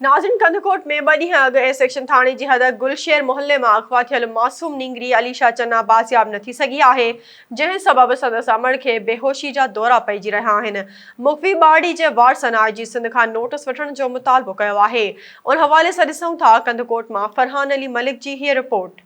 ناظرين ڪنڌڪوٽ ۾ ٻه ڏينهن اڳ اي سيڪشن ٿاڻي جي حد گل شير محلي مان اغوا ٿيل معصوم نينگري عليشا چنا بازياب نه ٿي سگهي آهي جنهن سبب سندس امڙ کي بيهوشي جا دورا پئجي رهيا آهن مغوي ٻارڙي جي وارثن آء جي سنڌ کان نوٽس وٺڻ جو مطالبو ڪيو آهي ان حوالي سان ڏسون ٿا ڪنڌڪوٽ مان فرحان علي ملڪ جي هيء رپورٽ.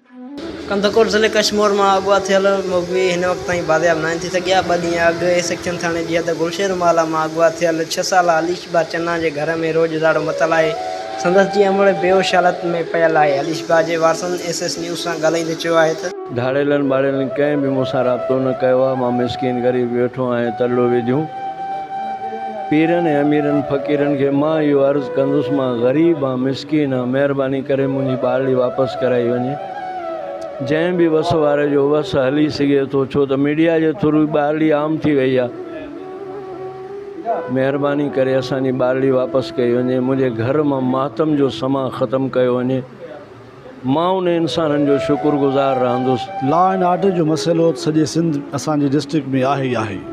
ڪنڌڪوٽ ضلعي ڪشمور مان اغوا ٿيل مغوي هن وقت تائين بازياب ناهن ٿي سگهيا، ٻه ڏينهن اڳ اي سيڪشن ٿاڻي جي حد گلشير مالا مان اغوا ٿيل ڇهه سالا عليش باء چنا جي گهر ۾ روڄ اجاڙو متل آهي، سندس جي امڙ بيهوش حالت ۾ پيل آهي، عليش باء جي وارثن ايس ايس نيوز سان ڳالهائيندي چيو آهي ته. ڌاڙيلن ٻاڙيلن ڪنهن به مون سان رابطو نه ڪيو آهي، مان مسڪين غريب ويٺو آهيان ترلو وجهون. پيرن ۽ اميرن فقيرن کي مان اهو عرض ڪندس مان غريب آن مسڪين آن مهرباني ڪري منهنجي ٻارڙي واپس ڪرائي وڃي جنهن به وس واري جو وس هلي سگهي ٿو ڇو ته ميڊيا جي ٿرو ٻارڙي عام ٿي وئي آ مهرباني ڪري اسان جي ٻارڙي واپس ڪئي وڃي منهنجي گهر مان ماتم جو سماء ختم ڪيو وڃي. مان ان انسانن جو شڪر گذار رهندس. لا اينڊ آرڊر جو مسئلو ته سڄي سنڌ اسان جي ڊسٽرڪٽ ۾ آهي ئي آهي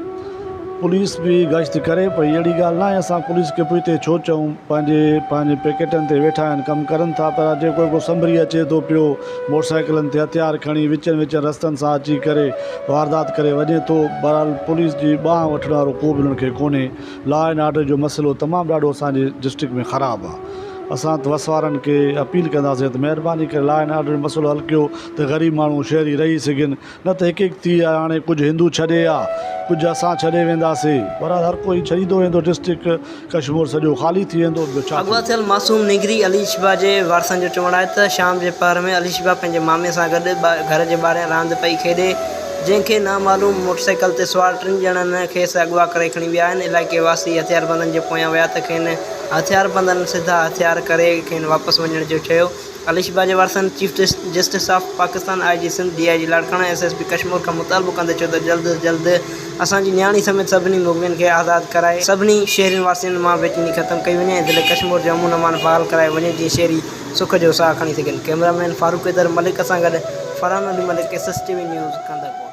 پوليس به گشت ڪري پئي اهڙي ڳالهه ناهي اسان پوليس کي پوئتي ڇو چئون پنهنجي پنهنجي پيڪيٽن تي ويٺا آهن ڪم ڪرن ٿا پر اڄ جيڪو ڪو سنڀري اچي ٿو پيو موٽر سائيڪلن تي هٿيار کڻي وچن وچن رستن سان اچي ڪري واردات ڪري وڃي ٿو بهرحال پوليس جي ٻانهه وٺڻ وارو ڪو به انهن کي ڪونهي لا اينڊ آرڊر جو مسئلو تمام ڏاڍو اسانجي ڊسٽرڪٽ ۾ خراب آ اسان ته وس وارن کي اپيل ڪنداسين ته مهرباني ڪري لا اينڊ آرڊر جو مسئلو حل ڪيو ته غريب ماڻهو شهري رهي سگهن نه ته هڪ هڪ ٿي آ هاڻي ڪجهه هندو ڇڏي آ ڪجهه اسان ڇڏي وينداسي بهرحال هر ڪو هي ڇڏيندو ويندو ڊسٽرڪٽ ڪشمور سڄو خالي ٿي ويندو ٻيو ڇا اغوا ٿيل معصوم نينگري علي شبا جي وارثن جو چوڻ آهي ته شام جي پهر ۾ علي شبا پنهنجي مامي سان گڏ گهر جي ٻاهريان راند پئي کيڏي جنهن کي نامعلوم موٽرسائيڪل تي سوار ٽن ڄڻن کيس اغوا ڪري کڻي ويا آهن علائقي واسي هٿياربندن جي پويان ويا ته کين هٿياربندن سڌا هٿيار ڪري کين واپس وڃڻ جو چيو علي شبا جي وارثن chief justice of Pakistan I G Sindh D I G Larkana S S P Kashmore کان مطالبو ڪندي چيو ته جلد جلد اسان جي نياڻي سميت سڀني مغوين کي آزاد ڪرائي سڀني شهرين واسين مان بيچيني ختم ڪئي وڃي ۽ ضلعي ڪشمور جي امن امان بحال ڪرايو وڃي جيئن شهري سک جو ساهه کڻي سگهن. ڪئميرا مين فاروق حيدر ملڪ سان گڏ Farhan Ali Malik S S T V news Kandhkot.